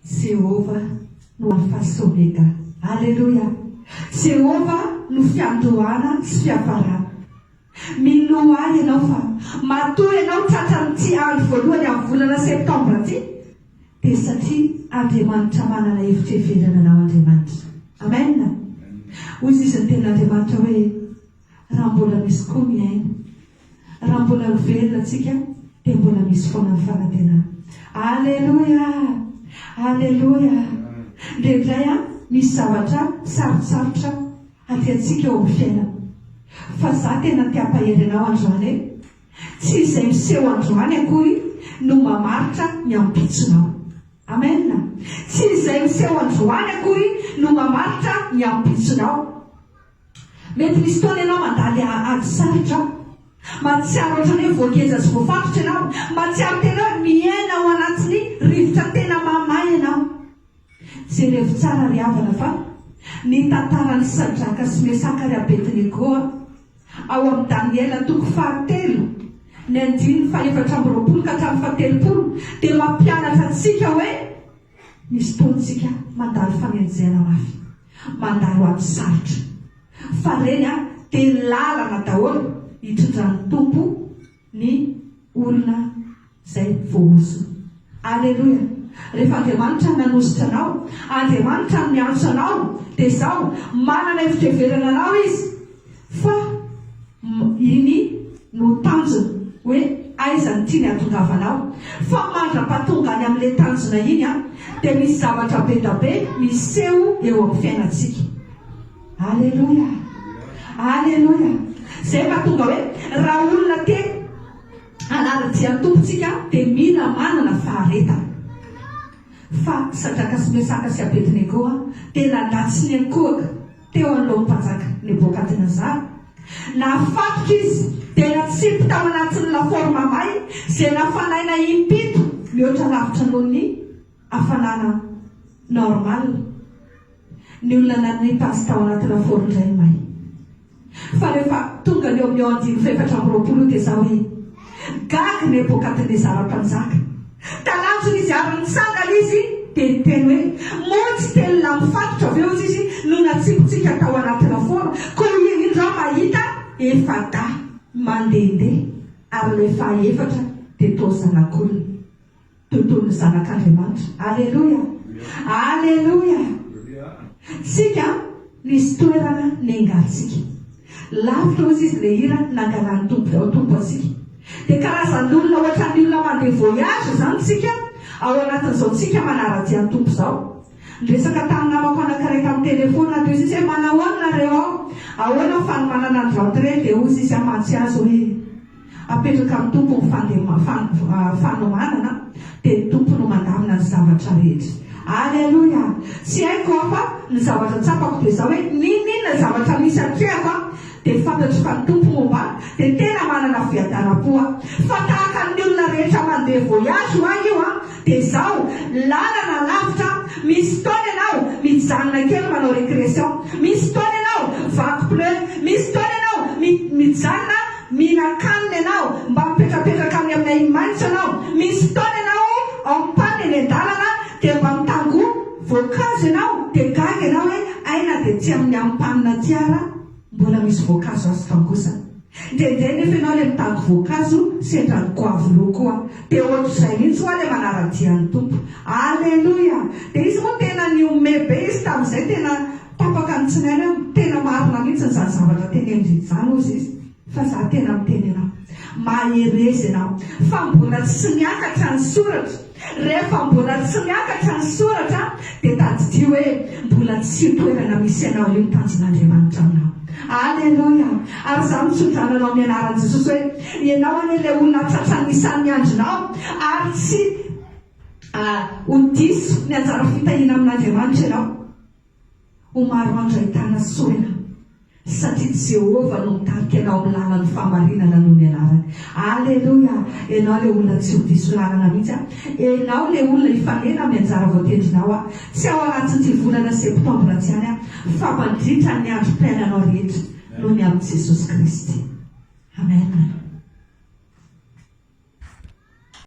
Jehovah no Alpha sy Omega. Aleloia! Jehovah no fiandohana sy fiafarana. Mino ahy ianao fa matoa ianao tratran'ity andro voalohany amin'ny volana Septambra ity, dia satria Andriamanitra manana hevitra heverina anao Andriamanitra. Amen! Hoy sisa ny Tenin'Andriamanitra hoe, Raha mbola misy koa mihaino, Raha mbola ho velona tsika dia mbola misy foana ny fanantenana. Aleloia! Aleloia! Indraindray an, misy zavatra sarotsarotra hatiantsika eo amin'ny fiainana. Fa za tena te hampahery anao androany e! Tsy izay miseho androany akory no mamaritra ny ampitsonao. Amen! Tsy izay miseho androany akory no mamaritra ny ampitsonao. Mety misy fotoana ianao mandady ady sarotra. Mahatsiaro ohatran'ny hoe voageja sy voafatotra ianao. Mahatsiaro tena hoe miaina ao anatin'ny rivotra tena mahamay ianao. Jerevo tsara ry havana fa ny tantaran'i Sadraka sy Mesaka ary Abednego ao amin'ny Daniela toko fahatelo, ny andininy fahefatra amby roapolo ka hatramin'ny fahatelopolo, dia mampianatra antsika hoe, Misy fotoantsika mandalo fanenjehana mafy, mandalo ady sarotra. Fa reny an, dia lalana daholo hitondran'ny Tompo ny olona izay voahozona. Aleloia! Rehefa Andriamanitra nanositra anao, Andriamanitra no niantso anao, dia izao, manana efitrevera anarao Izy. Fa iny no tanjona hoe aiza ny tiany hatongavana aho. Fa mandra-pahatonga any amin'ilay tanjona iny an, dia misy zavatra bedabe miseho eo amin'ny fiainantsika. Aleloia! Aleloia! Izay mahatonga hoe raha olona te hanara-dia ny Tompo tsika dia mila manana faharetana. Fa Sadraka sy Mesaka sy Abednego an, dia nandà tsy niankohoka. teo anoloan'ny mpanjaka Nebokadnezara. Nafatotra izy, dia natsipy tao anatin'ny laforma may, izay nafanaina impito mihoatra lavitra noho ny hafanana normal, ny olona nanipy azy tao anaty lafaoro indray may. Fa rehefa tonga ny eo amin'ny eo andininy fahefatra amby roapolo io dia izaho hoe. Gaga Nebokadnezara mpanjaka talanjona izy ary nitsangana izy dia niteny hoe, Moa tsy telolahy mifatotra ve ozy izy no natsimpitsika tao anaty lafaoro? Koa hoy ianindry aho mahita efa-dahy mandehandeha, ary ilay faha-efatra dia toa zanak'olona. Tontolon'ny zanak'Andriamanitra. Aleloia! Aleloia! Tsika no hisy toerana nengantsika. Lavitra hozy izy le hira nangalan'ny Tompo tao Tompo antsika. Dia karazan'olona ohatran'ny olona mandeha voyage izany tsika ao anatin'izao tsika manara-dia ny Tompo izao. Niresaka tamin'ny namako anankiray tamin'ny telefaonina teo izy izy hoe manao ahoana nareo ao? Ahoana ny fanomanana ny rentrée? Dia hozy izy amantsy azy hoe. Apetraka amin'ny Tompo ny fandema, fan, fanomanana, dia ny Tompo no mandamina ny zavatra rehetra. Aleloia! Tsy haiko aho fa ny zavatra tsapako dia izao hoe n'inon'inona zavatra misy hatrehako aho dia fantatro fa ny Tompo momba ahy dia tena manana fiadaram-po aho. Fa tahaka ny olona rehetra mandeha voyage ho ahy io an, dia izao, lalana lavitra, misy fotoana ianao mijanona kely manao récrétion, misy fotoana ianao vaky pneu, misy fotoana ianao mi, mijanona Mihinan-kanina ianao, mba mipetrapetraka any amin'ny ahi-maitso ianao, misy fotoana ianao ampana eny an-dalana dia mba mitangoa voankazo ianao dia gaga ianao hoe hay na dia tsy amin'ny ampanina aty ara mbola misy voankazo azo tangosana. Ndraindray nefa ianao ilay mitango voankazo sendran'ny goavy roa koa dia ohatr'izay mihitsy hoa ilay manara-dia ny Tompo. Aleloia! Dia izy moa tena nihomehy be izy tamin'izay, tena. Tapaka ny tsinainy aho, tena marina mihitsy izany zavatra teneniny izany hozy izy fa za tena miteny anao, mahereza ianao fa mbola tsy miakatra ny soratra, rehefa mbola tsy miakatra ny soratra dia tadidio hoe mbola tsy io toerana misy anao io ny tanjon'Andriamanitra aminao. Aleloia! Ary za mitsodrano anao amin'ny anaran'i Jesosy hoe ianao anie ilay olona tratran'ny isan'ny andronao ary tsy ho diso ny anjara fitahiana amin'Andriamanitra ianao. Ho maro andro ahitana sorona, satria tsy Jehovah no mitarika anao amin'ny lalan'ny fahamarinana noho ny anarany. Aleloia! Ianao ilay olona tsy ho diso lalana mihitsy an! Ianao ilay olona hifanena amin'ny anjara voatendrinao an! Tsy ao anatin'ity volana septambra ity ihany an, fa mandritra ny androm-piainanao rehetra, noho ny amin'i Jesosy Kristy. Amen.